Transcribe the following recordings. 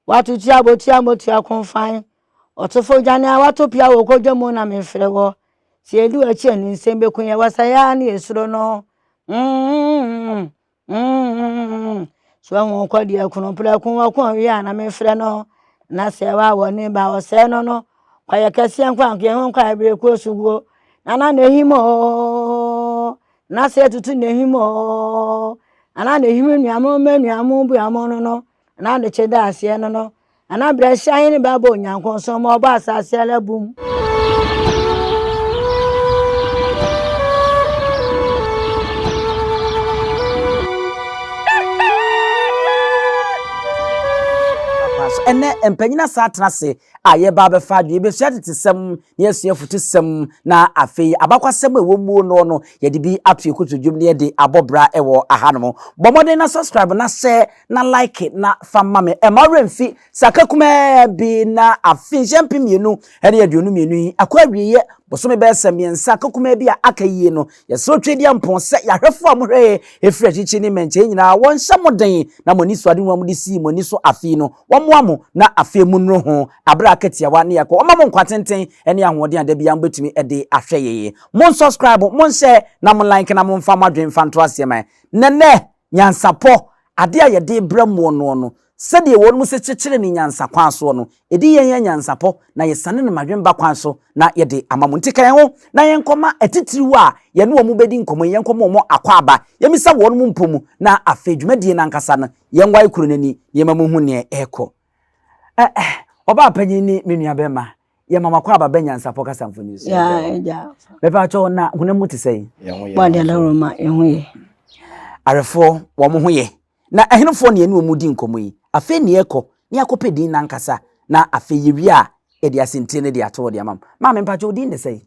Wato ti a botua a motua ko fann Ɔtofo dwane a wato pia wɔ kodwa mu na memfrɛ wɔ Sɛ yɛdi w'akyi a ne nsɛm bɛku yɛn Wɔ sɛeɛ a ne yɛ suro no mm-mm-mm-mm mm-mm-mm-mm So wahu wo kɔ deɛ kunu prɛko wako a ɔwie a na memfrɛ no Na sɛ wa wɔ ne ba ɔsɛe no no Kwayɛ kɛseɛ nko a nka yɛhu nkɔ a ɛberɛ kuo so wuo Na na ne him oo Na sɛ yɛtutu ne him oo Na na ne him nnuamo mma nnuamo bua mo no no N'adekye daaseɛ no no, Nana Brɛsya Ahene bɛ abɔ Onyankon so ma ɔbɔ asaase ara bum. Ɛnnɛ, mpanyin asan atena ase a yɛreba abɛfa adwene. Yɛbɛsua tetesɛm na yɛasua afutusɛm na afei abakwasɛm a ɛwɔ mu no no yɛde bi ato yɛn kotodwe mu na yɛde abɔ bra wɔ ahanom. Bɔ mmɔden na subscribe na share na like na fa ma me. Ɛmma wo werɛ mfi sɛ aka kumaa bi na afe nhyɛ mpem mmienu ne aduonu mmienu yi akɔ awieeɛ bosome bɛyɛ sɛ mmiɛnsa aka kumaa bi a aka yie no Yɛsrɛ Twedeampɔn sɛ yɛahwɛfo a mohwɛ yɛn firi akyirikyiri ne mmɛnkyɛe nyinaa wɔnhyɛ mo den na mo anisoadehu a mode sii mo ani so afe yi no, wɔmmoa mo na afei monnuru ho bere a aka tiawa na yɛkɔ. Wɔmma mo nkwa tenten ne ahoɔden a da biara mobɛtumi de ahwɛ yɛn. Monsɔskraibo, monhyɛɛ, na mo like na momfa mo adwene mfa nto aseɛ ma yɛn. Nɛnɛ! Nyansapɔ, adeɛ a yɛde rebrɛ mmoɔ noɔ no, sɛdeɛ wɔnom se kyekyere no nyansa kwan soɔ no, ɛdi yɛn yɛn nyansapɔ na yɛsane no mmadwemba kwan so na yɛde ama mo. Nti ka yɛn ho na yɛnkɔma atitiriw a yɛne wɔn bɛdi nkɔmmɔ yi, yɛnkɔma wɔn akwaaba, yɛmmisa wɔnom mpo mu, na afei dwumadie no ankasa no, yɛnwae kuro no ani na yɛmma monhu deɛ ɛrekɔ. Ɛ-ɛh, ɔbaapanin ne me nuabarima, yɛ mama kɔ aba bɛ nyansapɔ kasa mfoni so yɛ dɛ bɛpɛ akyɛ wɔn na honam mu te sɛ yi. wɔde adaworo ma ɛho yɛ. arefoɔ wɔn ho yɛ na ɛhenefoɔ ne ɛne wɔn di nkɔmɔ yi afei ne yɛkɔ ne yɛakɔ pɛ din nankasa na afei yɛwie a yɛde asɛntire no de ato hɔ de ama m maame mpakyɛ wo din de sɛ yi.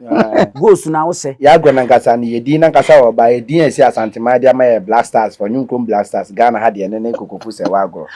goals na wo sɛ. Yɛ agorɔ nankasa no yɛ din nankasa wɔ ɔbaa yɛ din a ɛsi asanteman de ama yɛ black stars fɔ nyo nkom black stars Ghana ha deɛ ɛno ne kokofu sɛ wɔ agorɔ.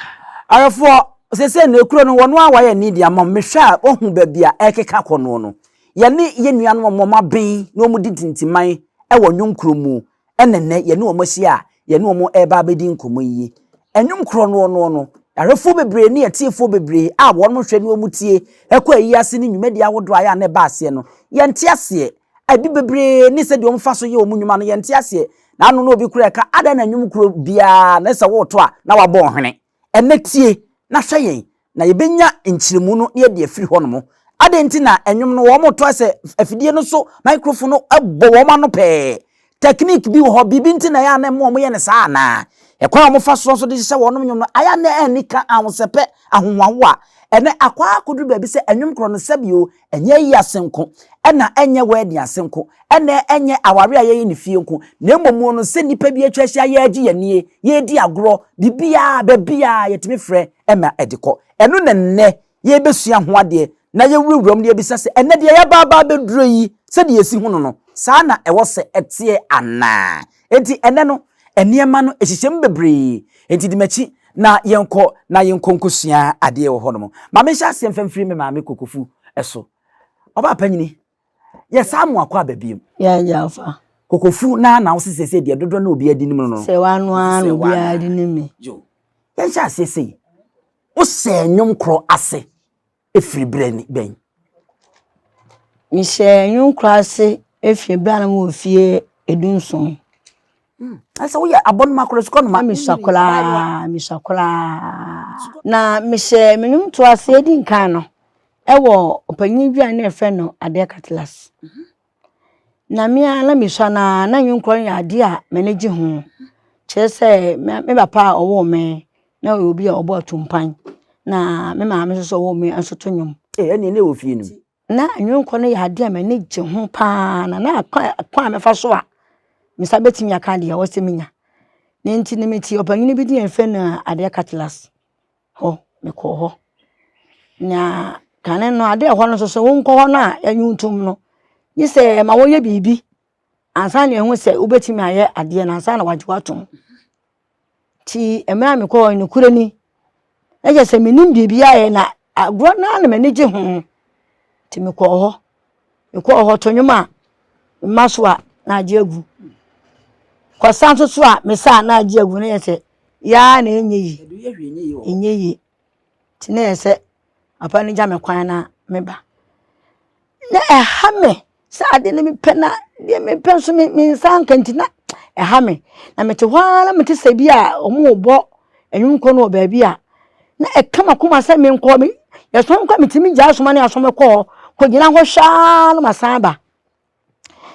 Awefoɔ sese no ekuro no wɔnoa wa yɛ need ama me hwɛ a wɔ hu baabi a ɛkeka kɔ noɔ no yɛ ne yɛ nua no wɔn wɔn aben na wɔn di tintiman ɛwɔ nyo nkuro mu ɛna nnɛ yɛne wɔn ahyia a yɛne wɔn reba abɛdi nkɔmmɔ yi. Nnwom korɔ noɔ noɔ no, arefoɔ bebree ne atiefoɔ bebree a wɔnom hwɛ ne wɔn tie ɛkɔ ayi ase ne nnwumadie ahodoɔ a yɛ a na ɛba aseɛ no, yɛnte aseɛ. Ɛbi bebree ne sɛdeɛ wɔfa so yɛ wɔn nnwuma no, yɛnte aseɛ. Na ano na obi koraa reka, adɛn na nnwom korɔ biara no sɛ woreto a na wabɔ ɔhwene? Ɛnnɛ tie na hwɛ yɛn, na yɛbɛnya nkyerɛmu no na yɛde afiri hɔnom. Adɛn nti na nnwom no wɔtɔ sɛ afidie no so microphone no bɔ wɔn ano pɛɛ? Technique bi wɔ hɔ, biribi nti na ɛyɛ a na ɛma wɔyɛ no saa anaa? Ɛkwan a wɔfa soɔ nso de hyehyɛ wɔn nnwom no, ayɛ a na ɛnni ka, ahosɛpɛ, ahohoahoa. Ɛnnɛ, akɔ ara akɔduru baabi sɛ nnwom korɔ no, sɛbi o, Ɛnyɛ ayi ase nko, ɛna ɛnyɛ wɛɛden ase nko, ɛna ɛnyɛ aware a yɛyɛ no fie nko, na mmom no sɛ nnipa bi atwa ahyia yɛregye yɛn nie, yɛredi agorɔ, biribiara, baabiara yɛtumi frɛ ma ɛde kɔ. Ɛno na nnɛ yɛrebɛsua ho adeɛ na yɛwurawura mu na yɛbisa sɛ, ɛnnɛ deɛ yɛaba aba abɛduro yi, sɛdeɛ yɛsi hunu no, saa na ɛwɔ sɛ ɛteɛ anaa? Enti ɛnnɛ no, nneɛma no ɛhyehyɛ mu bebree. Enti di m'akyi na yɛnkɔ na yɛnkɔ nkɔsua adeɛ wɔ hɔnom. Ma menhyɛ aseɛ mfa mfiri me maame Kokofu so. Ɔbaa panyini, yɛsan mo akɔ aba bio. Yɛagya ɔfa. Kokofu, na na wo se seesei deɛ dodoɔ na obiara di nim no no. Sɛ w'ano ara na obiara di nim me. Yo. Yɛnhyɛ aseɛ sei. Wosɛɛ nnwom korɔ ase. firi berɛ bɛn? Mehyɛɛ nnwom kura ase firi berɛ a na mewɔ mfeɛ du-nson. Hmm, na sɛ woyɛ abɔnoma koraa, sukuu anoma? Mesua koraa, mesua koraa. Na mehyɛɛ me nnwom to ase di nkan no wɔ ɔpanyin dwa ne ɛfɛ no Adeɛ Katilas. Mhm. na me ara na mesua no ara, na nnwom korɔ no yɛ adeɛ a m'ani gye ho. Kyerɛ sɛ, me me papa a ɔwoo me na ɔyɛ obi a ɔbɔ atumpan, na me maame nso a ɔwoo me nso to nnwom. Ee, ɛnneɛ na ɛwɔ fie no mu. Na nnwom korɔ no yɛ adeɛ a m'ani gye ho pa ara, na na ɛkwan a ɛkwan a mɛfa so a me nsa bɛtumi aka deɛ ɔwɔ sɛ menya. Ne nti no, mete ɔpanin bi din a yɛfrɛ no Adeɛ Cutlass. hɔ mekɔɔ hɔ na kane no adeɛ ɛwɔ hɔ no nso wonkɔ hɔ no a ɛnye wo ntom no gye sɛ ɛma woyɛ biribi ansa na ɛhu sɛ wobɛtumi ayɛ adeɛ no ansa na wagye woatom nti mmerɛ a mekɔɔ nokorɛ ni ɛyɛ sɛ menim biribi ayɛ na agorɔ no ara na m'ani gye ho nti mekɔɔ hɔ Mekɔ hɔ to nnwom a, mema so a na agye agu. Kɔsa nso so a mesa a na agye agu na yɛ sɛ yaa na ɛnyɛ yi. Ɛnyɛ yi. Nti na yɛ sɛ papa no gya me kwan na meba. Na ɛha me sɛ ade no mepɛ na deɛ mepɛ nso me me nsa nka nti na ɛha me. Na mete hɔ ara na mete sɛ bi a wɔrebɔ nnwom kɔ no wɔ baabi a na ɛka m'akoma sɛ menkɔ me yɛsoma me kɔ a metumi gyaa asoma ne asoma kɔ hɔ kɔgyina hɔ hwɛ ara na masan aba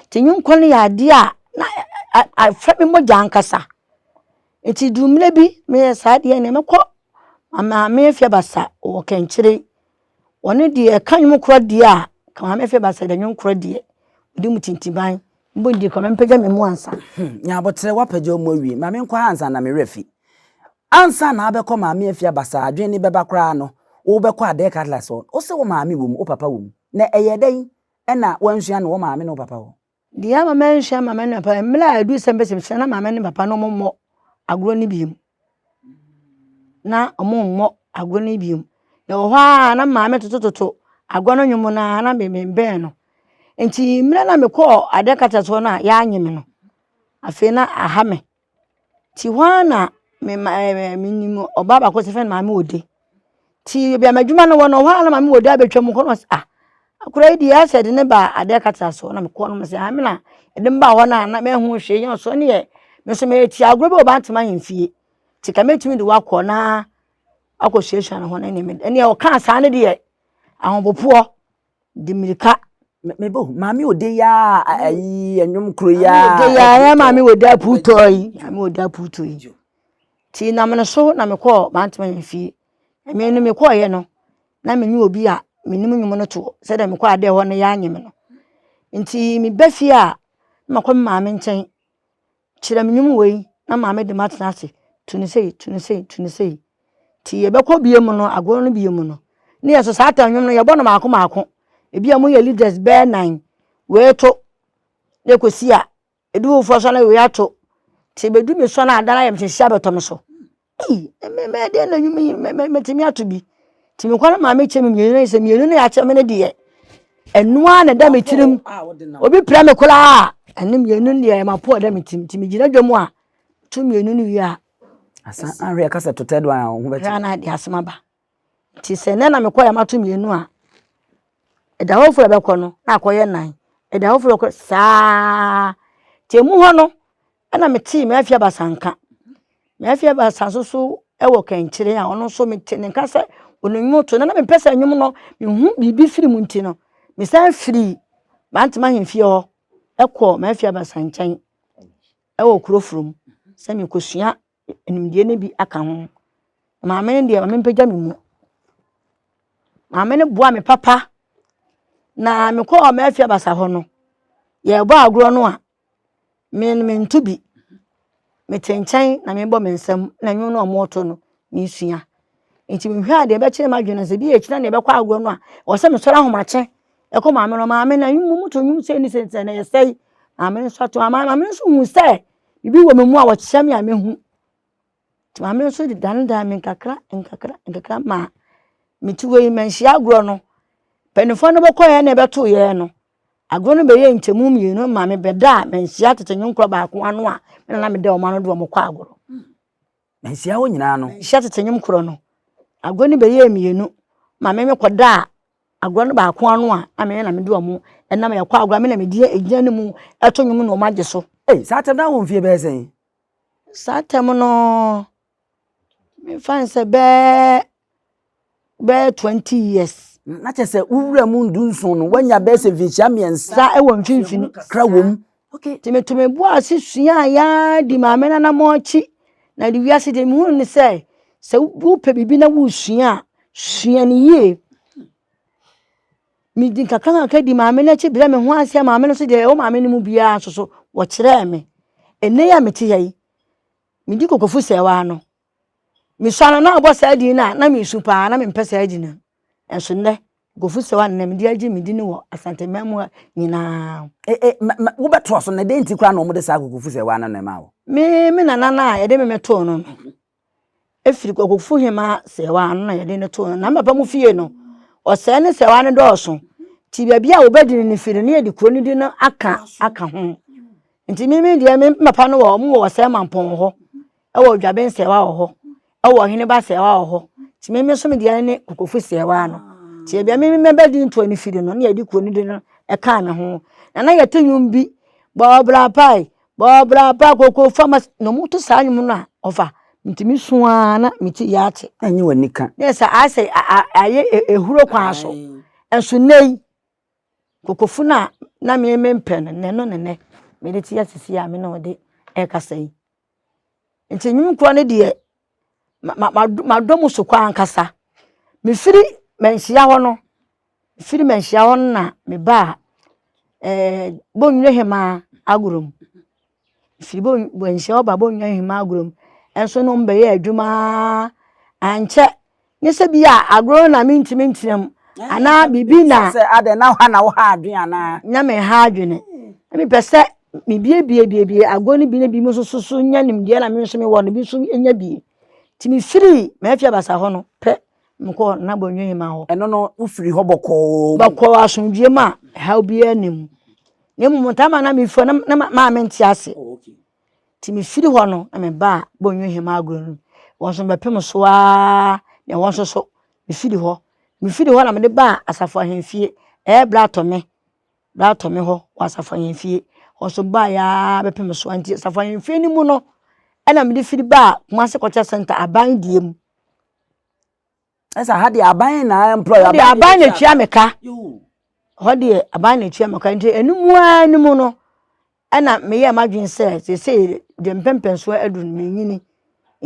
nti nye nkɔ no yɛ adeɛ a na afɛ me mogya ankasa nti duru mmerɛ bi meyɛ saa deɛ neɛ mɛkɔ maame fie basa wɔ kɛnkyere Ɔno deɛ ɛka nnwom korɔ deɛ a, ka maame fɛ ba sɛ dɛ nnwom korɔ deɛ, ɔdi mu tintiban. Mbɔ ndi kɔ maame mpagya me mu ansa. Hmm, nyabotrɛ wapagya ɔmu awie, ma me nkɔ ha ansa na me werɛ fi. Ansa na abɛkɔ maame afie abasaa adwene ni bɛba koraa no, wo bɛkɔ adɛɛ cutlass hɔ, wo se wo maame wɔ mu, wo papa wɔ mu. Na ɛyɛ dɛn na wansua no wɔ maame ne wo papa hɔ? Deɛ ama manhyia maame ne papa, mmerɛ a ɛduru sɛ mɛsɛ mesrɛ na maame ne papa no wɔmmɔ agorɔ no bio. Na wɔmmɔ agorɔ no bio. Ɛwɔ hɔ ara na maame totototo agorɔ no nnwom no ara na me bɛn no. Nti mmerɛ na mekɔɔ adaka kyerɛkyerɛfoɔ no a, yɛannye me no, afei na aha me. Ntsi hɔ ara na me ma ɛɛ me minyim ɔbaa baako wɔfrɛ no Maame Ode. Ntsi beebi a m'edwuma no wɔ no, hɔ ara na Maame Ode abotwa mu hɔ na ɔse ah, akora yi de yɛ asɛ dze ne ba Adan kɛtse asɔ. Nna mokɔr no mese aah me na edze me baa hɔ no a na mennhu hwee, nnyɛ ɔsɔ ne yɛ. Me so meyɛ tsia, agor bi wɔ Bantam ahemfie, ntsi nka metumi dze wo akɔ na akɔ suasua no ho no nna emi de. Nna ɔkaa saa no de yɛ ahobopoɔ. de mirika mebɔ maame ode yi a ayi ɛnwom koro yi a ode yi a ɛyɛ maame ode aputɔ yi maame ode aputɔ yi ti nam no so na mekɔɔ mantoma yɛn fie ɛmɛ no mekɔɔyɛ no na me ne obi a menim nnwom no toɔ sɛdeɛ mekɔ adeɛ hɔ no yɛanyem no nti meba fie a na makɔ me maame nkyɛn Kyerɛ me nnwom wei na ma me de m'atena ase, to no sei, to no sei, to no sei. Nti yɛbɛkɔ bie mu no, agorɔ no bie mu no, ne yɛ so saa ta nnwom no yɛbɔ no maako maako. Ebi a mo yɛ leaders bɛɛ nan, wei to, na ekosi a, edu foforɔ so na wei ato. Nti ebedu me so na ada na ayɛ me hyɛ hyɛ abɛtɔ me so. Mɛyɛ dɛn na nnwuma yi matumi ato bi? Nti mekɔ no maame kyɛ me mmienu no sɛ mmienu no yɛakyɛ me no deɛ ɛno ara na ɛda me tirim obi pira me koraa ɛne mmienu no deɛ mapo ɛda me tirim nti megyina dwa mu a to mmienu no wie a asa ahwɛ ɛka sɛ totɛ do a wo ho bɛkyɛ na de asɛm aba Nti sɛ nnɛ na mekɔ a mato mmienu a, ɛda hɔ foforo a ɛbɛkɔ no na akɔyɛ nnan. Ɛda hɔ foforo a ɛbɛkɔ saa. Nti emu hɔ no ɛna metee me afe abasa nka. Me afe abasa nso so wɔ kɛnkyere a ɔno nso mete ne nka sɛ ɔnim nnwom to. Na na mempɛ sɛ nnwom no mehu biribi firi mu nti no, mesan firii Mantema ahemfie hɔ kɔɔ m'afe abasa nkyɛn wɔ Kurofrom sɛ merekɔsua nimdeɛ no bi aka ho. Maame no deɛ ma mempagya me mu. Maame no boaa me papa, na mekɔɔ m'afi abasa hɔ no, yɛrebɔ agorɔ no a, me no mento bi. Mete nkyɛn na mebɔ me nsam na nnwom no a wɔreto no mesua. Nti mehwɛ a deɛ ɛbɛkyerɛ m'adwene sɛ bi a ɛkyina deɛ ɛbɛkɔ agorɔ no a, ɛwɔ sɛ mesɔre ahomakye ɛkɔ maame no maame na moto nnwom sei ne sei na ɛsɛe. Maame no nso ato maame no nso hu sɛ Biribi wɔ me mu a wɔkyerɛ me a mehu. Nti maame no nso de danedane me nkakra nkakra nkakra ma mete hɔ yi manhyia agorɔ no. Mpanimfoɔ no bɛkɔeɛ na ɛbɛtoeɛ no, agorɔ no bɛyɛ nkyɛmu mmienu ma mebɛda a manhyia tete nwonkora baako ano a na meda wɔn ano de wɔn kɔ agorɔ. Manhyia wo nyinaa no. Manhyia tete nnwom korɔ no. Agorɔ no bɛyɛɛ mmienu. Maame no kɔdaa agorɔ no baako ano a, na me na mede wɔn nam. Yɛkɔ agorɔ a, me na medi gyina no mu to nnwom na wɔagye so. Ei, saa tam no na wowɔ mfeɛ bɛyɛ sɛn? Saa tam no, memfa no sɛ bɛyɛ bɛyɛ twenty years. Na kyerɛ sɛ wo wura mu ndu nson no wanya bɛyɛ sɛ mfinhyia mmiɛnsa wɔ mfimfini kra wom. Nti meto me bo ase suaa yaa di maame no anammɔnkyi na de wiase de mehunu ne sɛ sɛ wopɛ biribi na wosua a sua no yie. Medi nkakra nkakra di maame no akyi brɛ me ho ase a maame no nso deɛ ɛwɔ maame no mu biara nso so wɔkyerɛɛ me. Ɛnnɛ yi a mete ha yi medi kokofo sɛɛ waa no. Mesua no na ɔbɔ saa din no a na mesu paa na mempɛ saa din no. Nso nnɛ, Gofu Sewa na mede agye me din wɔ Asante man mu nyinaa. E e ma, ma, wobɛtoa so na dɛn nti koraa na wɔde saa Gofu Sewa no na ɛmaa wo? Me, me nana no a yɛde me me too no no, efiri Gofu Hema Sewa no na yɛde no too no. Na me papa mu fie no, ɔsɛɛ ne Sewa no dɔɔso. Nti baabi a wɔbɛdi no no firi no na yɛde kuro no din no aka, aka ho. Nti me, me deɛ, me papa no wɔ, wɔn wɔ Ɔsɛe Mampɔn hɔ. Ɛwɔ odwaben sɛɛwa wɔ hɔ ɛwɔ ɔhene ba sɛɛwa wɔ hɔ nti meme nso me deɛ ne kokofu sɛɛwa no nti ebia meme mɛbɛ di ntoɔ ne firi no ne yɛde kuo no di no ɛkaa me ho na na yɛte nnwom bi bɔɔbra pae bɔɔbra pae koko fama na ɔmo to saa nnwom no a ɔfa nti me su ara na me ti yɛ ate. Ɛnyɛ wɔ nika. Ne sɛ asɛ ayɛ ehuro kwan so nso nnɛ yi kokofu no a na meme mpɛ no nnɛ no ne nnɛ mede te asisi a me na ɔde ɛkasa yi. Nti nnwom kura no deɛ, madɔ mu so koraa ankasa. Mefiri manhyia hɔ no, mefiri manhyia hɔ no na mebaa ɛɛ Bonnwire Hemaa Agorom. Mefiri Bonnw manhyia hɔ baa Bonnwire Hemaa Agorom. Ɛnso no mebɛyɛɛ adwuma ara, ankyɛ Nye sɛ bi a agorɔ na mentumi ntena mu anaa biribi na. Sɛ adɛn na ha na woha adwene anaa? Na meha adwene. Na mepɛ sɛ mebiebiebie agorɔ no bi na bi mu nso so so nya nimdeɛ na me nso mewɔ no bi nso nya bi. Nti mefirii m'afi abasa hɔ no pɛ mekɔɔ Nana Bonyo Hima hɔ. Ɛno no wofiri hɔ bɔkɔɔ mu? Bɔkɔɔ asomdwoeɛ mu a ɛhaw biara nni mu. Na mmom ntaa ma na mefiri hɔ na maame nte ase. Nti mefiri hɔ no na mebaa Bɔnhwa Hema Agorɔ no mu. Wɔn nso mebɛpem so ara na ɛhɔ nso so mefiri hɔ. Mefiri hɔ na mede baa Asafo Ahemfie, ɛyɛ Bratɔme, Bratɔme hɔ wɔ Asafo Ahemfie. Hɔ nso baeɛ ara bɛpem so ara nti Asafo Ahemfie no mu no ɛna mede firi baa Kumase Culture Centre aban deɛ mu. ɛsɛ ha deɛ aban na employ aban aban na etua me ka hɔ deɛ aban na etua me ka nti ɛnu mu ara no mu no ɛna meyɛ m'adwene sɛ sese deɛ mpɛmpɛn so aduru no menyini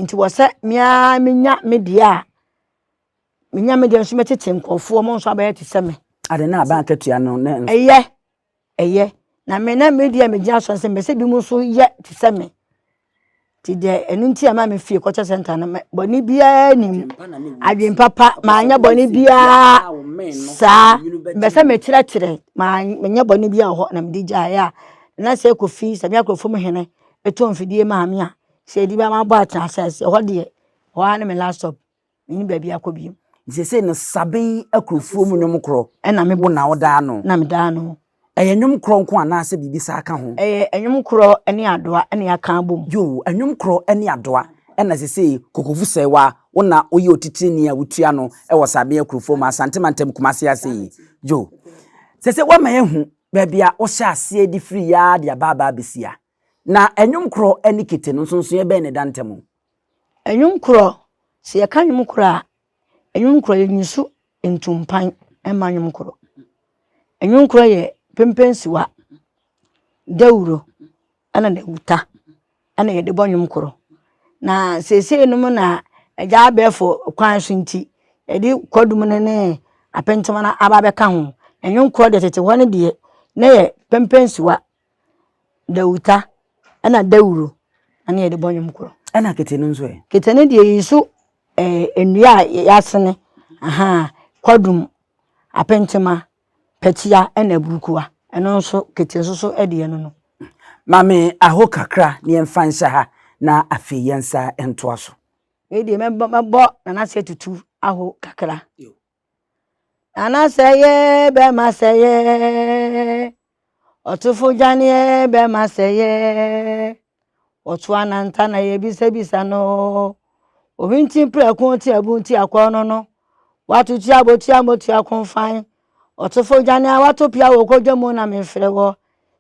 nti wɔ sɛ mmea menya me deɛ a menya me deɛ nso mɛtete nkurɔfoɔ mo nso abɛyɛ te sɛ me. ade na aban akatua no ne ɛyɛ Ɛyɛ, na me na me deɛ megyina so sɛ mɛsɛ bi mu nso yɛ te sɛ me nti deɛ ɛno nti a ma me fie kɔkyɛ sɛnta no bɔne biara nim adwen papa maanyɛ bɔne biara saa mbɛ sɛ mekyerɛkyerɛ menyɛ bɔne biara wɔ hɔ na mede gyaeɛ a na sɛ kɔfi sɛ me akorɔfo mu hene ɛtɔ mfidie maa me a sɛ ɛdi bɛma bɔ akyɛ asase hɔ deɛ hɔ ara ne me last stop Menni baabi akɔ bio. Seesei no Saben akurofoɔ mu nnwom korɔ na me bo na wo daa no. Na me daa no. Ɛyɛ nnwom korɔ nko anaa sɛ biribi saa ka ho? Ɛyɛ nnwom korɔ ne adoa na yɛaka abom. Yoo, nnwom korɔ ne adoa. Ɛna seesei Kokovu Sɛɛwa, wo na wo yɛ otitrini a wotua no wɔ Saben akurofoɔ mu, Asante mantam Kumase ase yi. Yoo, seesei woama yɛahu baabi a wo hyɛ aseɛ de firi yɛ ara de aba aba abɛsi ha. Na nnwom korɔ ne kete no nsonsonoeɛ bɛn na ɛda ntam? Nnwom korɔ, sɛ yɛka nnwom korɔ a, nnwom korɔ yɛ nniso ntumpan ma nnwom korɔ. Nnwom korɔ yɛ pempensiwa, dawuro ɛna dawuta ɛna yɛde bɔ nnwom korɔ. Na seesei nom na agya abɛɛfo kwan so nti yɛde kwadum no ne apentema no aba abɛka ho. Nnwom korɔ deɛ tete hɔ no deɛ na yɛ pempensiwa Dawuta ɛna dawuro ɛna yɛde bɔ nnwom korɔ. Ɛna kete no nso ɛ? Kete no deɛ yi so ɛɛ nnua a yɛasene ahaa kwadum, apentema, pɛtia ɛna aburukua ɛno nso kete nso so ɛdeɛ no no. Maame aho kakra na yɛmfa nhyɛ ha na afei yɛnsa ntoa so. Wei deɛ mɛbɔ nana sɛ tutu aho kakra. Nana sɛ yɛ bɛma sɛ yɛ ɔtofo dwaneɛ bɛma sɛ yɛ ɔto ananta na yɛ bisabisa no ohwinti prɛko ti abu nti akɔ no no wato ti abotua motu akonfan ɔtofo dwaneɛ wato pia wɔ kɔdwa mu na mefrɛ wɔ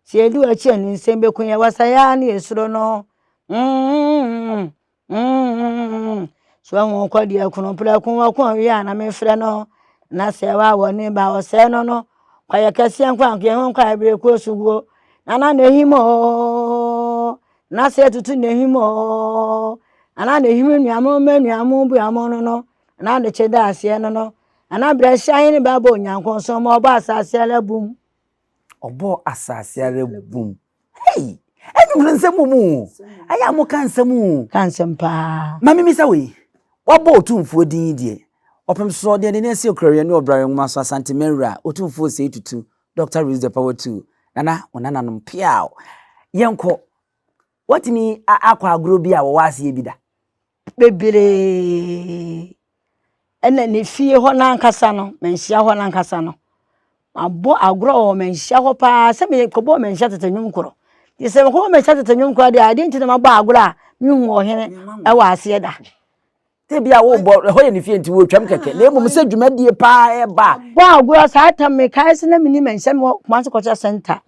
sɛ yɛdu akyi ɛnu nsɛm bɛku yɛ wasa yɛ a ne yɛ suro no mm, mm, mm. mm So ahu ɔkɔdeɛ ɛkono prɛko ɔko ɔwea na me frɛ no na sɛ ɛwɔ a wɔne ba ɔsɛe no no kwayɛ kɛseɛ nkɔ ankeɛ ho nkɔ ɛberɛ kɔ so guo na na na ehim ooo na sɛ tutu na ehim ooo na na na ehim nuamu mɛ nuamu bu amu no no na na kyɛ da aseɛ no no na na brɛ hyɛ ayi ne ba bɔ onyanko nso ma ɔbɔ asase ara bum ɔbɔ asase ara bum Hey! Ɛnum no nsɛm mu o. Ɛyɛ a moka nsɛm o. Ka nsɛm paa. Ma mimmisa wo yi, wɔabɔ Otumfoɔ din yi deɛ, ɔpem soɔ, deɛ n'ani asie koraeɛ ne Ɔbrare Nwoma so Asanteman Wura, Otumfoɔ Osei Tutu, Doctor Release the Power Too, Nana, wo nananom, peaw! Yɛnkɔ. Woatumi a akɔ agorɔ bi a wɔwɔ aseɛ bi da? bebree na ne fie hɔ no ankasa no, manhyia hɔ no ankasa no, mabɔ agorɔ wɔ manhyia hɔ pa ara sɛ mekɔbɔɔ manhyia tete nnwom koro. Gye sɛ mekɔbɔɔ manhyia tete nnwom koro deɛ a, adeɛ nti na mabɔ agorɔ a menhuu ɔhene wɔ aseɛ da. Sɛ bi a wobɔ ɛhɔ yɛ ne fie nti wɔtwam kɛkɛ na mmom sɛ dwumadie paa ɛba a. Bɔ agorɔ saa tam mekae sɛ na menim manhyia mewɔ Kumasi Cultural Center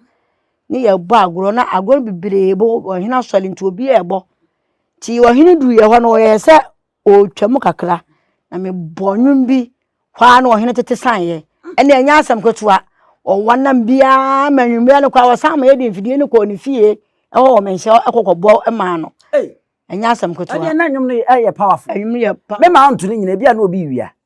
ne yɛbɔ agorɔ na agorɔ no bebree bɔ ɔhene asɔre nti obiara ɛbɔ. Ntsi ɔhen duruiɛ hɔ no, ɔyɛɛ sɛ ɔretwa mu kakra, na mebɔɔ nnwom bi hɔ ara na ɔhen tete saneeɛ. Ɛnna ɛnyɛ asɛm ketewa, ɔwa nam biara ma anwummerɛ no koraa ɔsan ma yɛde mfidie no kɔɔ ne fie hɔ wɔ Manhyia hɔ kɔ kɔbɔ maa no. Ɛnyɛ asɛm ketewa. Ɛdeɛ na nnwom no yɛ powerful. Nnwom no yɛ powerful. Me maa ɔnto ne nyina, ebi a na obi rewia.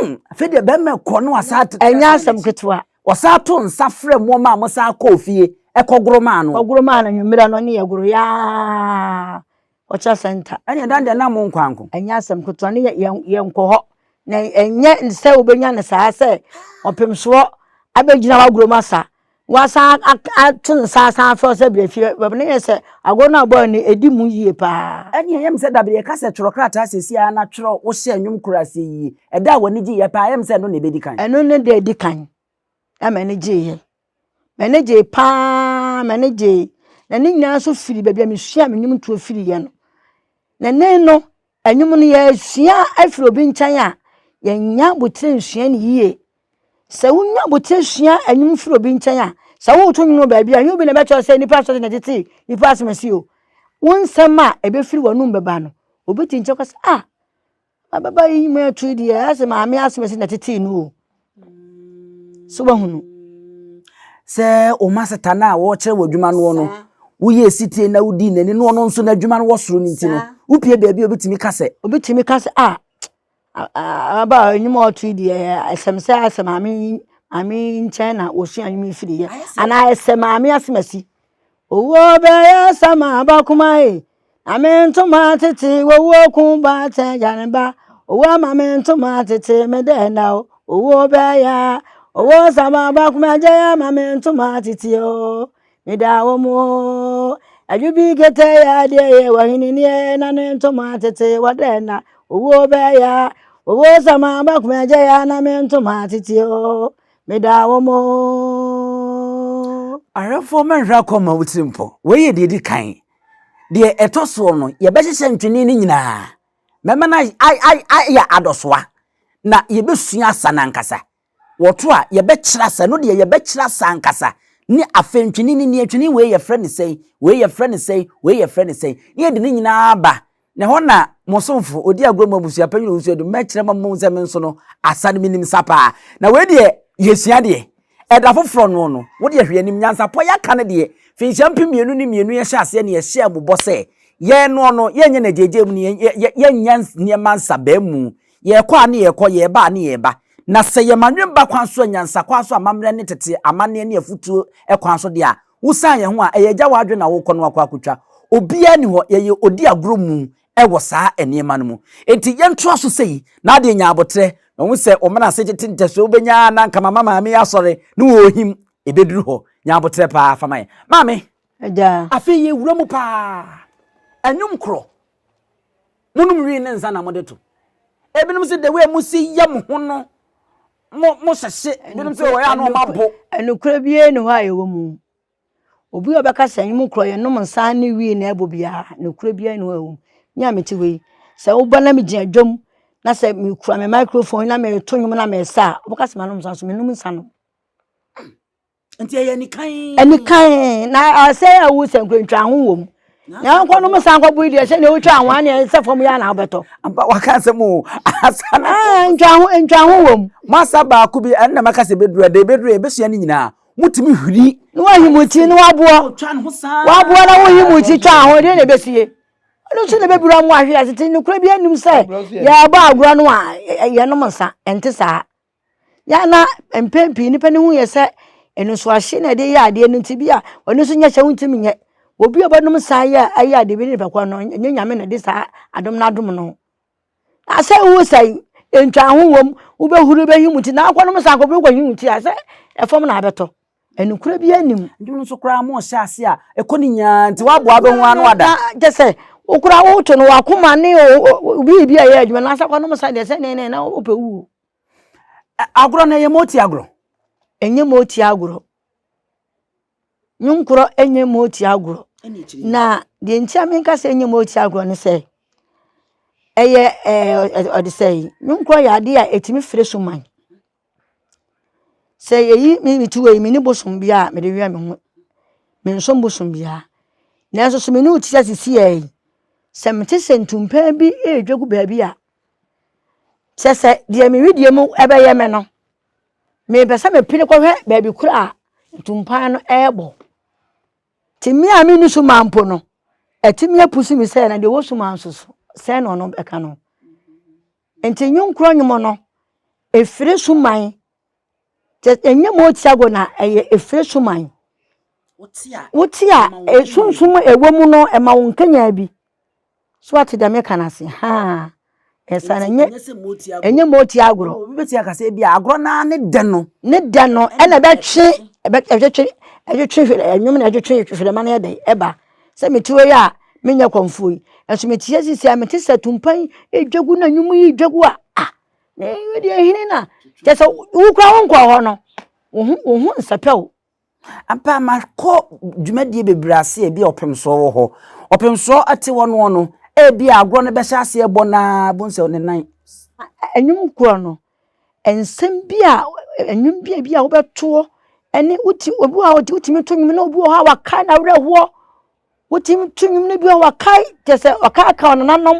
Mm, afei deɛ bɛrima kɔ na wasan atetɛ. Ɛnyɛ asɛm ketewa. Wɔsan ato nsa frɛ mmoɔma a wɔsan kɔɔ fie ɛkɔgoro maa no. Ɔgoro maa no anwummerɛ no ne yɛ goro yaa ɔkyɛ sɛnta. Ɛne ɛdan deɛ nam nkwanko. Ɛnyɛ asɛm ketewa ne yɛ nkɔ hɔ na ɛnyɛ sɛ wobɛnya no saa sɛ ɔpemsoɔ abɛgyina w'agoro mu asa Wasan ato ne nsa asan afrɛ wo sɛ bra fie. Baabi no yɛ sɛ agorɔ no a ɔbɔeɛ no ɛdi mu yie paa. Ɛnneɛ ɛyɛ me sɛ da bi yɛka sɛ twerɛ krataa seesei ara na twerɛ wohyɛ nnwom koro aseɛ yie. Ɛda a w'ani gyeeɛ paa ɛyɛ me sɛ ɛno na ɛbɛdi kan. Ɛno ne da a ɛdi kan a m'ani gyeeɛ. M'ani gyee paa m'ani gyee. Na ne nyinaa nso firi baabi a mesuaa me nnwomtoɔ firiiɛ no. Na ɛnnɛ yi no Ɛnwom no yɛresua afiri obi nkyɛn a, yɛnya abotire nsua no yie. Sɛ wonya abotire sua ɛnwom firi obi nkyɛn a, sɛ woreto nwom wɔ baabi a, ɛnyɛ obi na ɛbɛkyerɛ sɛ nnipa asɔre na ɛtete nnipa asɛm asi o. Wo nsɛm a ɛbɛfiri w'anom bɛba no, obi te nkyɛn kɔ sɛ, ah, ababaa yi nwom ɛto yi deɛ, ɛyɛ sɛ maame asɛm asi na ɛtete no o. so wahunu sɛ wɔn maseta no a wɔrekyerɛ wɔ adwuma noɔ no woyɛ sitie na wodii n'ani na ɔno nso n'adwuma no wɔ soro no nti no wopie baabi a obɛtumi ka sɛ obɛtumi ka sɛ a aba a anim a ɔtoi deɛ ɛsɛm sɛ asɛ maame maame nkyɛn na wɔsua nwom yi firiiɛ anaa ɛsɛ maame asemasi Owuo bɛyɛ sɛ m'aba kuma e Na me ntoma tete Owuo ku ba tɛ gya ne ba Owuo ama me ntoma tete Me dɛ na o Owuo bɛyɛ Owuo sɛ m'aba kuma gya ya ma me ntoma tete o Me da wo mo Adwo bi kete ya deɛ yɛ wɔ hene nie na ne ntoma tete Wɔ dɛ na Owuo bɛyɛ Owuo sɛ m'aba kuma gya ya na me ntoma tete o Meda wo mo. Awerɛfoɔ mɛnhwɛ akɔ ma wotiri mpɔ. Wei yɛ deɛ ɛdi kan. Deɛ ɛtɔ soɔ no, yɛbɛhyehyɛ ntwene no nyinaa. Mɛma no ayɛ adɔsoa na yɛbɛsua asa no ankasa. Wɔto a, yɛbɛkyerɛ asa no deɛ yɛbɛkyerɛ asa ankasa ne afei ntwene no nie, ntwene wei yɛfrɛ no sɛn, wei yɛfrɛ no sɛn, wei yɛfrɛ no sɛn, na yɛde ne nyinaa aba Na ɛhɔ na mo somfo, odi agorɔ mu abusua panyin ɔwɔ nsuo adum, mɛkyerɛ mo ama moahu sɛ me nso no, asa no menim sa paa. Na wei deɛ yɛsua deɛ ɛda foforɔ noɔ no, wo deɛ hwɛ anim, nyansapɔ yɛaka no deɛ finhyia mpem mmienu ne mmienu yɛhyɛ aseɛ na yɛhyɛɛ mo bɔ sɛ, yɛn noɔ no, yɛnyɛ no agyeagyea mu ne yɛnyɛ nneɛma nsabaa mu, yɛkɔ a ne yɛkɔ, yɛba a ne yɛba. Na sɛ yɛma nwene ba kwan so a, nyansakwan so, amammerɛ ne tete amanneɛ ne afutuo kwan so deɛ a, Wo san yɛn ho a, ɛyɛ agya w'adwene na wokɔ no akɔ akotwa. Obiara nni hɔ, yɛyɛ odi agorɔ mu wɔ saa nneɛma no mu. Enti yɛntoa so sei. Na adeɛ nyaa aboterɛ. Mahu sɛ wɔn menase tete ntasuo wobɛnya ara na anka mama maame yi asɔre ne wo ɔɔhim. Ɛbɛduru hɔ. Nya aboterɛ paa fa ma yɛn. Maame. Agya. Afei yɛwura mu paa. Anwum korɔ. Monom wii ne nsa na mo de to. Ebinom se the way mo si yɛ mo ho no mo mo hyɛhye ebinom nso wɔyɛ ano ɔmo abo. Ɛnukurɛ biara ni hɔ a ɛwɔ mu. Obi a ɔbɛka sɛ ɛnyɛ mu korɔ yɛ nom nsa ne wii na ɛbɔ biara nukurɛ biara ni hɔ a ɛwɔ mu. Me a mete hɔ yi sɛ woba na megyina dwam na sɛ mekura me microphone na mereto nnwom na meresa a wobɛka sɛ manom nsa nso menom nsa nom. nti ɛyɛ nikan. ɛnikan na asɛ awu sɛ nkurantwa ho wɔ mu na nkɔ nom san kɔ bui deɛ sɛ deɛ wotwa ho aneɛ sɛ fam yɛ anaa wobɛtɔ ampa waka sɛ mu asa na ah, ntwa ho ntwa ho wɔ mu masa baako bi ɛnna maka sɛ bɛduru ɛdɛ bɛduru ɛbɛsua ne nyinaa motumi hwiri ne wahimu ti ne waboɔ waboɔ na wohimu ti twa ho deɛ na ɛbɛsie ɛno nso na ɛbɛbura mu ahwe ase ti nokorɛ bi anim sɛ yɛbɔ agorɔ no a yɛnom nsa ɛnte saa Yɛ a na mpɛn pii nnipa ani hu yɛ sɛ anisoadeɛ na ɛde yɛ adeɛ no nti, bi a ɔno nso nyɛ sɛ wontumi nyɛ. Obi a ɔbɛnom nsa yɛ a ɛyɛ adeɛ bi ne nipa korɔ no, ɛnyɛ Nyame na ɛde saa adom no adom no. Na sɛ wosa yi, ntwaho wom, wobɛhuru bɛhim wo ti, na akɔnom nsa akɔbere wokɔhim wo ti a, sɛ ɛfam na abɛtɔ. Ɛnokorɛ biara nnim. Ndwom nso koraa mo hyɛ ase a, ɛkɔ ne nyinaa nti woaboa bɛ ho ano ada. Kyɛ sɛ wo koraa woto no, wakoma ne wo biribi a ɛyɛ adwuma, na sɛ akɔnom nsa deɛ sɛnee na wopɛ wuo. Ɛ agorɔ no, ɛyɛ moti agorɔ? Ɛnyɛ moti agorɔ. Nwonkorɔ ɛnyɛ moti agorɔ. Na deɛ nti a menka sɛ ɛnyɛ moti agorɔ ne sɛ, ɛyɛ ɛɛ ɔde sɛ yi, nwonkorɔ yɛ adeɛ a ɛtumi firi so man. Sɛ yɛyi me meti wɔ yi, me ni bosom biara a mede wɛn me ho. Mensom bosom biara. Nanso sɛ me ne wo te sɛ sisi yɛ yi, sɛ mete sɛ ntumpɛn bi ɛredwa gu baabi a, Kyɛ sɛ deɛ me wedeɛ mu bɛyɛ me no, mepɛ sɛ mepene kɔhwɛ baabi korɔ a ntumpan no rebɔ. Te me a menni so ma mpo no, atumi apusu me sɛ na deɛ ɔwɔ so ma nso so sɛn na ɔno bɛka no. Nti nnwom korɔ nnwom no, ɛfiri so man Kyɛ ɛnyɛ mo Tiago na ɛyɛ Efeso man. Wote a, sunsum ɛwɔ mu no ɛma wo nkanyan bi. So ate deɛ meka no ase? Haa. Ɛsa no ɛnyɛ ɛnyɛ mo Tiago. Obi bɛtumi aka sɛ ebi a agorɔ no ara ne dɛ no. Ne dɛ no ɛna ɛbɛtwe ɛtwetwe ɛtwetwe ɛnwom na ɛtwetwe hwerɛma no yɛ dɛ ɛba. Sɛ mete hɔ yi a menyɛ kɔmfoɔ yi, nanso mete ha seesei a mete sɛ atumpan yi redwa gu na nnwom yi redwa gu a, ah! Deɛ hene na kyɛ sɛ wokura wo nkɔɔ hɔ no wo ho nsɛpɛ o ampa makɔ dwumadie bebree ase ebi a ɔpemsoɔ wɔ hɔ ɔpemsoɔ te hɔ noɔ no ebi a agorɔ no bɛhyɛ aseɛ bɔ naa bohu sɛ ne nan ɛnwom korɔ no nsɛm bi a ɛnwom bi a bi a wobɛtoɔ ɛne woti obi wɔ hɔ a wotumi to nwom na obi wɔ hɔ a wakae n'awerɛhoɔ Wotumi to nnwom no bi a wɔkae kyerɛ sɛ wɔkaakae wɔn nananom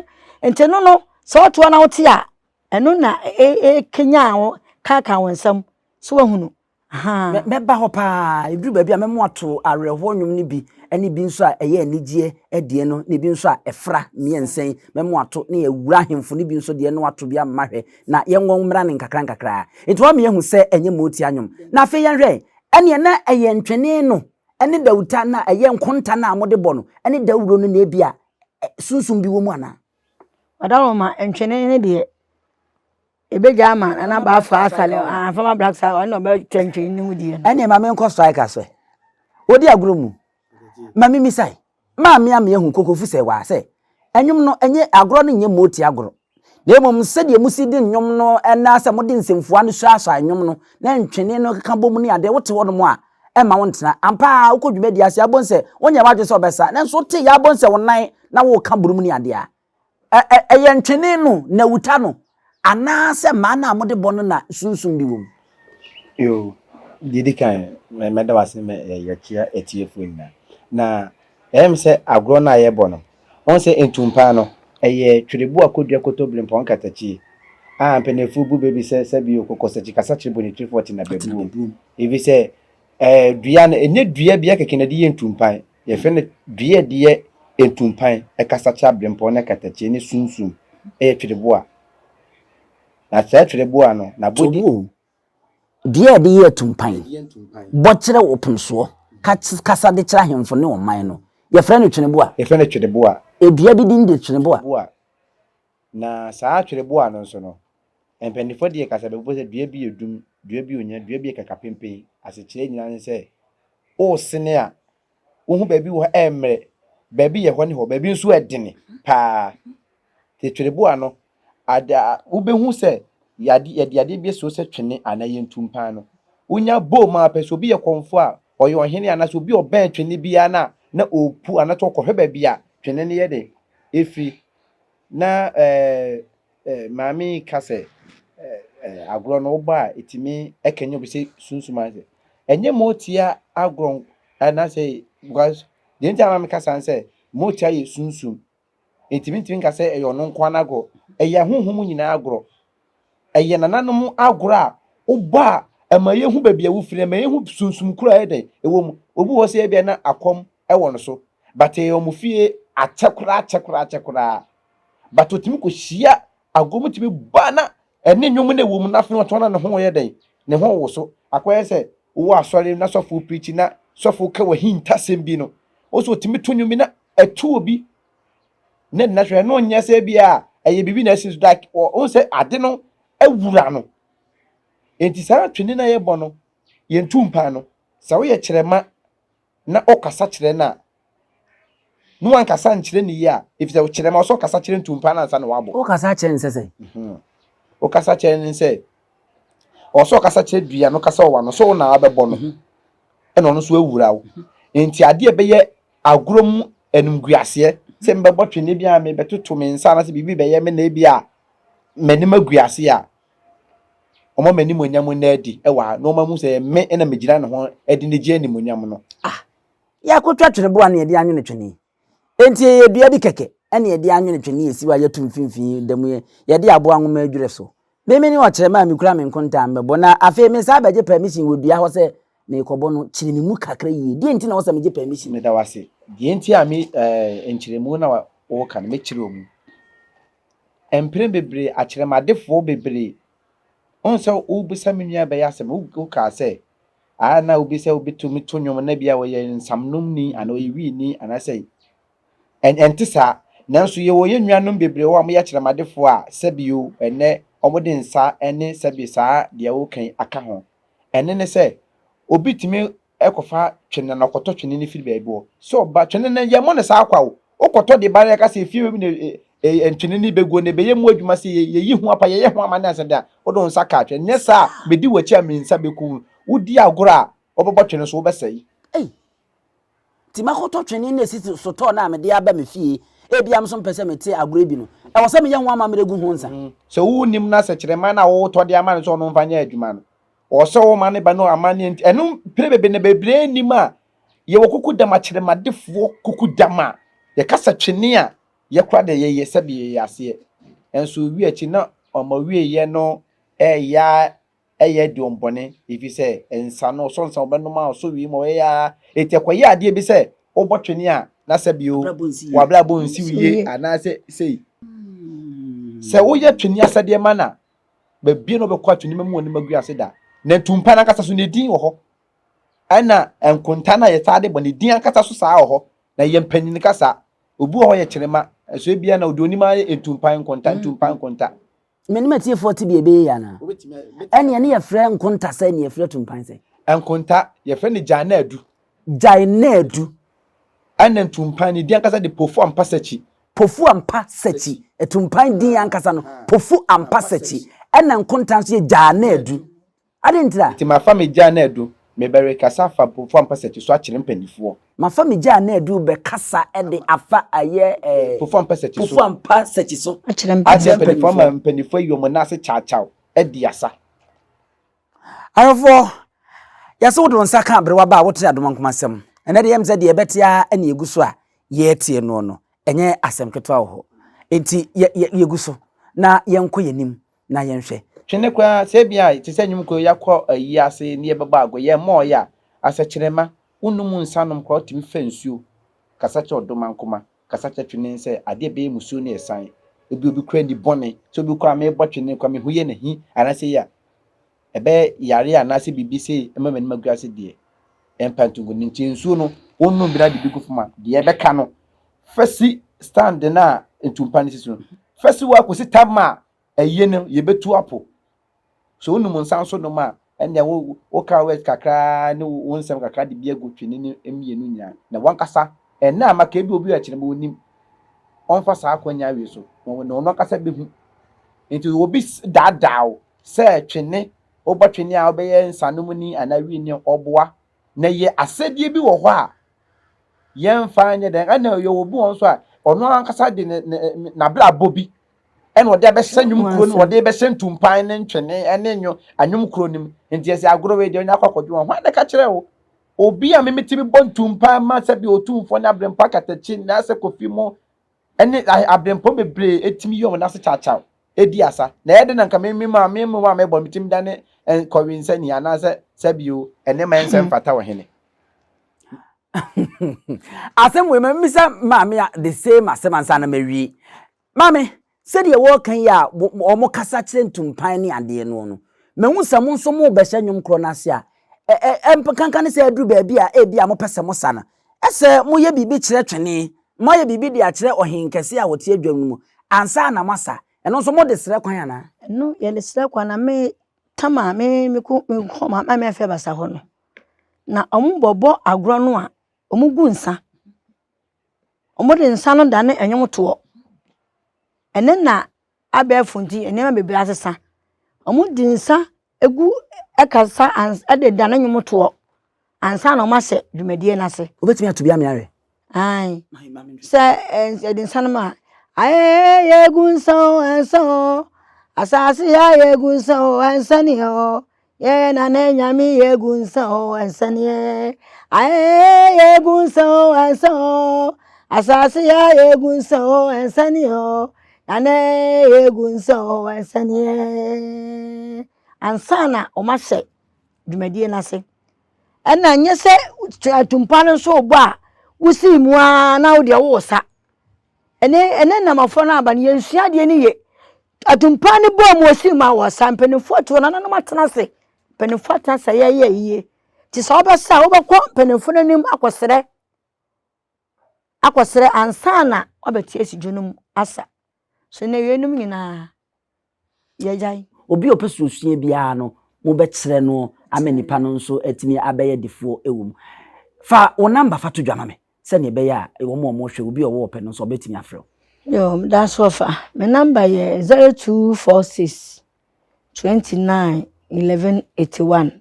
nti no no sɛ ɔtoa na wote a ɛno na ɛkenya wo kaakae wɔn nsam so wahunu mɛba hɔ paa ɛduru baabi a mɛmo ato awerɛhoɔ nnwom no bi ne bi nso a ɛyɛ anigyeɛ adie no ne bi nso a ɛfra mmiɛnsa yi mɛmo ato ne awura ahemfo no bi nso deɛ no ato bi ama hwɛ na yɛnwɔ mmra ne nkakra nkakra nti wɔn mmiɛhu sɛ ɛnyɛ mootia nnwom na afei yɛnhwɛ ɛneɛ na ɛyɛ ntwene no ne dawurtan no a ɛyɛ nkontan a wɔde bɔ no ne dawuro no na ebia sunsum bi wɔ mu anaa? Ɔdawuroma ntwene no deɛ, ɛbɛgya ama nana baafa asale a former black star ɔno na ɔbɛtwa ntwene no mu deɛ. ɛnneɛ ma menkɔ strikers ɛ wode agorɔ mu ma memisae Maa me a me ahu Kokofu Sewaa sɛ ɛnwom no ɛnyɛ agorɔ no nyɛ moti agorɔ na mmom sɛdeɛ mo si de nnwom no ɛnaa sɛ mo de nsɛmfua no suasua nnwom no na ntwene no keka bom ne adeɛ wote hɔ nom a ɛmma wo ntena ampa ara wokɔ dwumadie ase abonsɛ wonyɛ wadwene sɛ wobɛsa nanso wote yɛ abonsɛ wo nan na woka burum ne adeɛ a ɛyɛ ntwene no na wuta no, anaasɛ mmaa no a mode bɔ no na sunsum bi wom? Yoo, deɛ ɛdi kan, mɛda wase ma yɛkyia atiefoɔ nyinaa. Na ɛyɛ me sɛ agorɔ no a yɛbɔ no, wɔn sɛ ntumpaa no, ɛyɛ twerɛboɔ a kɔdua kotobire mpɔn nkatakyie a mpaninfoɔ bu baabi sɛ sɛbi o kɔkɔ sakyikasakyere bɔ ne tiri fɔ tena bɛbuom. Ɛfiri sɛ ɛɛ dua no, ɛnyɛ dua bi ɛkɛkɛ na ɛde yɛ ntumpaa. Yɛfrɛ no dua a ɛde yɛ ntumpan, kasakyɛ, aberempɔn ne katakyie ne sunsum. Ɛyɛ twereboa. Na saa twereboa no, n'abɔdeɛ. Tomuo, dua a ɛde yɛ atumpan, bɔ kyerɛ ɔpomsoɔ, kasa de kyerɛ ahemfo ne ɔman no. Yɛfrɛ no tweneboa. Yɛfrɛ no twereboa. Dua bi din de tweneboa. Na saa atwerɛboɔ ano nso no, mpanimfoɔ deɛ kasa bɛbobɔ sɛ dua bi yɛ dum, dua bi onya, dua bi yɛ kakapenpen. Asekyerɛ nyinaa ne sɛ, woresene a, wohu baabi wɔ hɔ a ɛremmrɛ, baabi yɛ hɔ ne hɔ, baabi nso ɛdene paa. Te twerɛboɔ ano, ade a wobɛhu sɛ yɛade yɛde adeɛ bi asi hɔ sɛ twene anaa ɛyɛ ntumpaa no, wonya bɔ mu ara pɛ, sɛ obi yɛ kɔmfoɔ a, ɔyɛ ɔhene anaasɛ obi a ɔbɛn twene biara no a, na ɔrepu anaasɛ ɔrekɔhwɛ baabi a twene no yɛ dɛn, ɛfiri. Na maame yi ka sɛ agorɔ no wobɔ a ɛtumi ɛkɛnyɛ obi sɛ sunsum ase. Ɛnyɛ ma ɔtia agorɔ anaasɛ because deɛ nti a maame ka saa sɛ ma ɔtia yɛ sunsum. Ɛtumi ntumi nka sɛ ɛyɛ ɔno nko ara n'agorɔ. Ɛyɛ ahonhom nyinaa agorɔ. ɛyɛ nananom agorɔ a wobɔ a ɛma yɛhu baabi a wofiri, ɛma yɛhu sunsum koro a ɛyɛ dɛn ɛwɔ mu. Obi wɔ hɔ sɛ ebia na akɔm wɔ no so, but ɛyɛ wɔn fie akyɛ koraa akyɛ koraa akyɛ koraa. But otumi kɔhyia agorɔ mu tumi bɔ a na ɛne nnwom na ɛwɔ mu na afei ɔtɔn na ne ho yɛ dɛn, ne ho woso. Akɔyɛ sɛ wowɔ asɔre na sɔfo preachi na sɔfo ka w'ahintasɛm bi no, wo nso otumi to nnwom bi na ɛto obi na nna hwɛ no nyɛ sɛ bi a ɛyɛ biribi na ɛsi so da ɔhu sɛ ade no awura no nti saa twene no a yɛbɔ no yɛntu mpan no sɛ woyɛ kyerɛma na ɔkasa kyerɛ no a na wankasa nkyerɛ ne yie a ɛfiri sɛ wokyerɛ ma ɔsɛ ɔkasa kyerɛ ntu mpan no ansa na wabɔ wokasa kyerɛ ne sɛ sɛ wokasa kyerɛ ne sɛ ɔsɛ ɔkasa kyerɛ dua no kasa ɔwa no sɛ wo na wabɛbɔ no ɛna ɔno nso awura wo nti adeɛ ɛbɛyɛ Agorɔ mu animguaseɛ, sɛ mebɛbɔ twene bi anaa mebɛtoto me nsa anaasɛ biribi bɛyɛ me na ebia m'anim agu ase a, ɔma m'animuonyam nna adi wɔ ha, na ɔma hu sɛ me na megyina ne ho de no gye animuonyam no. Ah, yɛakɔtwa tweneboa na yɛde anwene twene yi. Enti ɛyɛ dua bi kɛkɛ na yɛde anwene twene yi a ɛsi hɔ a yɛto mfimfini da mu yi, yɛde aboa nwoma adwira so, Meme ne ɔkyerɛma a mikura me nkontaa mmɛbɔ, na afei mesan bɛgye pɛmisin wɔ dua hɔ sɛ merekɔbɔ no. Kyere me mu kakra yiye. Deɛn nti na ɛwɔ sɛ megye pɛmisin? Meda wo ase. Deɛ nti a me, eh, nkyerɛmu na woka no, mɛkyere wo mu. Mpere bebree, akyerɛmadefoɔ bebree, wohu sɛ wobisa me nua bɛyɛ asɛm, wokaa sɛ, ah, na obi sɛ wobɛtumi to nnwom na bia ɔyɛ nsamnomni anaa ɔyɛ wiini anaasɛ Ɛnte saa. Nanso yɛwɔ yɛn nuanom bebree wɔ hɔ a wɔyɛ akyerɛmadefoɔ a sɛbio ɛnnɛ wɔde nsa ne sɛbe saa deɛ woka yi aka ho. Ɛno ne sɛ, obi tumi kɔfa twene na ɔkɔtɔ twene no firi baabi hɔ. Sɛ ɔba, twene no yɛmmɔ no saa kwa o, wokɔtɔ de ba na yɛka sɛ efie wei mu na twene no bɛguo na ɛbɛyɛ mu adwuma sɛ yɛyi ho apa, yɛyɛ ho amanneɛ ansa de a, wode wo nsa kaa twene. Nyɛ saa a, mɛdi w'akyi a me nsa bɛku wo. Wodi agorɔ a, wobɛbɔ twene so, wobɛsɛe. Nti mɛkɔtɔ twene na asi sotɔɔ no a mede aba me fie. Ebia me nso mpɛ sɛ mete agorɔ bi no. Ɛwɔ sɛ meyɛ ho amammerɛ gu ho nsa. Sɛ wonnim no a, sɛ kyerɛ mma no a wotɔ de ama no sɛ ɔno mfa nyɛ adwuma no. Ɔwɔ sɛ woma ne ba no amanneɛ nti. Ɛno pere bebree na bebree nnim a yɛwɔ kukudam akyeremadefoɔ kukudam a yɛka sɛ twene a yɛkora deɛ yɛyɛ sɛdeɛ yɛyɛ aseɛ. Nanso ɔwi akyi na wɔn awieeɛ no reyɛ ara ɛyɛ aduon bɔne, efi sɛ, nsa no ɔsɔ nsa, ɔbɛnom a ɔsɔ wii ma ɔyɛ ya ara, enti ɛkɔyɛ adeɛ bi sɛ wobɔ twene a na sɛ bio w'abrabɔ nsiw yie anaa sɛ sei. Sɛ woyɛ twene asɛdeɛ ma no a, baabiara na wobɛkɔ a twene mɛmu w'anim agu ase da. Na ntumpa no ankasa so ne din wɔ hɔ, ɛna nkonta no a yɛtaa de bɔ ne din ankasa so saa wɔ hɔ, na yɛn mpanyin kasa, obi wɔ hɔ yɛ kyerema, nso ebia na ɔde onim ara yɛ ntumpa, nkonta, ntumpa, nkonta. Me ne m'atiefoɔ tebea bɛyɛ yie anaa? Ɛnneɛ ne yɛfrɛ nkonta sɛ ne yɛfrɛ tumpan sɛ. Nkonta, yɛfrɛ no Gyae-na-adu. Gyae-na-adu. Ɛnna ntumpan no din ankasa de Pofu-Ampasakyi. Pofu-Ampasakyi. Atumpan din ankasa no, Pofu-Ampasakyi. Ɛnna nkonta nso yɛ Gyae-na-adu. Adɛn ntira? Nti mafa me gyaa no adu mebɛ rekasa afa mponfo a mpɛ sɛ ɛte so akyere mpanimfoɔ. Mafa me gyaa no adu bɛ kasa de afa ayɛ eh. Mponfo a mpɛ sɛ ɛte so. Mponfo a mpa sɛ ɛte so. Akyere mpanimfoɔ. Akyere mpanimfoɔ ama mpanimfoɔ ayi wɔn nan ase kyawkyaw adi asa. Awerɛfoɔ, yɛse wode wo nsa ka aberewa ba a wote adomankoma asɛm. Ɛnɛ deɛ ɛyɛ me sɛ deɛ ɛbɛte ara na yɛgu so a yɛretie noɔ no. Ɛnyɛ asɛm ketewa wɔ hɔ. Enti yɛ, yɛ, yɛgu so na yɛnkɔ yɛn anim na yɛnhwɛ. Twene koraa sɛ ebia te sɛ nnwom koro yi yɛakɔ ayi ase na yɛbɛbɔ ago, yɛmmɔɔe a, asɛkyerɛmma, wonnom nsa nom kora wotumi fa nsuo kasa kyerɛ ɔdomankoma, kasa kyerɛ twene sɛ adeɛ ɛbɛyɛ musuo na ɛsan, ebia obi kora nni bɔne, sɛ obi kɔ a merebɔ twene kɔ a mehu yɛ na hi anaasɛ yi a. ɛbɛyɛ yare anaasɛ biribi sɛ ɛma m'anim agu ase deɛ, ɛmpa ntungo no nti nsuo no wonom bi na de bi gu fam a, deɛ ɛbɛka no fa si stand no a ntumpa no si so no fa si hɔ a kɔsi tam a ɛyɛ no yɛbɛtu apo. Sɛ wonom nsa nso nom a ɛnneɛ wo woka word kakra ne wo nsɛm kakra de bi agu twene no mmienu nyinaa na wankasa ɛnna a maka ebi obi a ɛkyerɛ ma onim ɔmfa saa akwannya wei so na ɔno ankasa bɛhu nti obi daadaa wo sɛ twene, wobɔ twene a wobɛyɛ nsanomni anaa wiini ɔboa. Na yɛ asɛdeɛ bi wɔ hɔ a yɛmfa nyɛ dɛn, ɛna yɛwɔ obi wɔ hɔ nso a ɔno ankasa de ne ne n'abrabɔ bi ɛna ɔde abɛhyɛ nnwom kuro no mu, ɔde bɛhyɛ ntumpan ne ntwene ɛne nwo anwom kuro no mu. Nti yɛsɛ agorɔ wei deɛ ɔnya akɔ akɔdwo wɔn. Hwan na ɛka kyerɛ wo? Obi a memetumi bɔ ntumpan ma sɛbi Otumfoɔ ne Aberempɔ Akatakyi ne Asɛ Kofi mo ne aberempɔn bebree tumi yɛ wɔn ase kyawkyaw di asa. Na ɛyɛ dɛn na anka me me ma me mmoa a mebɔ no metumi da ne kɔwe nsani anaasɛ sɛbi o ɛne ma ɛnsɛ mfata ɔhene. asɛm wei ma mmisa maame a the same asɛm ansa na mawie maame sɛdeɛ wɔreka yi a wɔn kasa kyerɛ ntumpan ne adeɛ noɔ no mahu sɛ mo nso mobɛhyɛ nnwom korɔ no ase a ɛɛ ɛɛ nkanka ne sɛ aduru baabi a ebi a mopɛ sɛ mosa no Sɛ moyɛ biribi kyerɛ twene, moayɛ biribi de akyerɛ ɔhen kɛse a ɔte adwam no mu, ansa na moasa, ɛno nso mode srɛ kwan anaa? Ɛno yɛ ne srɛ kwan, na me tam a me meko meko ma me afɛ basa hɔ no, na ɔmo bɔ bɔ agorɔ no a, ɔmo gu nsa. Ɔmo de nsa no da ne ɛnwom toɔ. Ɛnɛ na abɛɛfo nti nneɛma bebree asesa. Ɔmo de nsa Egu kasa ans de da ne nnwom toɔ ansa na wɔahyɛ dwumadie no ase. Wobɛtumi ato bi ama yɛahwɛ? Ae. Sɛ yɛde nsa no ma a, Ayɛyɛ yɛgu nsa o, ɛnsa o. Asase a yɛgu nsa o, ɛnsa ni o. Yɛyɛ nana anyame yɛgu nsa o, ɛnsa ni e. Ayɛyɛ yɛgu nsa o, ɛnsa o. Asase a yɛgu nsa o, ɛnsa ni o. Nane egu nsa o ɛsɛneɛ ansa na wɔn ahyɛ dwumadie no ase ɛna nyɛ sɛ atumpa no nso rebɔ a wosi mu ara na wodeɛ wowɔ sa ɛne ɛne namafoɔ no aba no yɛnsua adeɛ no yie atumpa no bɔ mu osi mu a wɔsa mpanimfoɔ atu wɔn nananom atena ase mpanimfoɔ atena ase yɛyɛ yie te sɛ wɔbɛsa a wobɛkɔ mpanimfoɔ no anim akɔsrɛ akɔsrɛ ansa na wɔabɛte asidwo no mu asa. So nnɛ yeinom nyinaa yɛagyae? Obi a ɔpɛ suasua biara no, mobɛkyerɛ no ama nnipa no nso atumi abɛyɛ adefoɔ wɔ mu. Fa wo namba fa to dwa ma me sɛdeɛ ɛbɛyɛ a wɔn a wɔrehwɛ, obi a ɔwɔ ɔpɛ no nso ɔbɛtumi afrɛ wo. Yoo, meda so ɔfa. Me namba yɛ zero two four six 29 11 81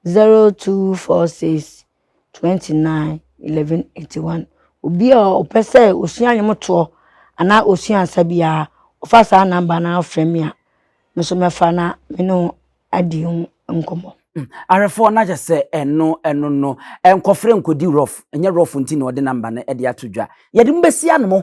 0246 29 11 81 obi a ɔpɛ sɛ osua nnwomtoɔ anaa osua nsa biara ɔfa saa namba no afrɛ me a me nso mɛfa na me ne ho adi ho nkɔmmɔ hmm, awerɛfoɔ no akyɛ sɛ ɛno ɛno no nkɔfrɛ nkɔdi rof ɛnyɛ rof nti na ɔde namba no de ato dwa yɛde mo bɛsi ano mo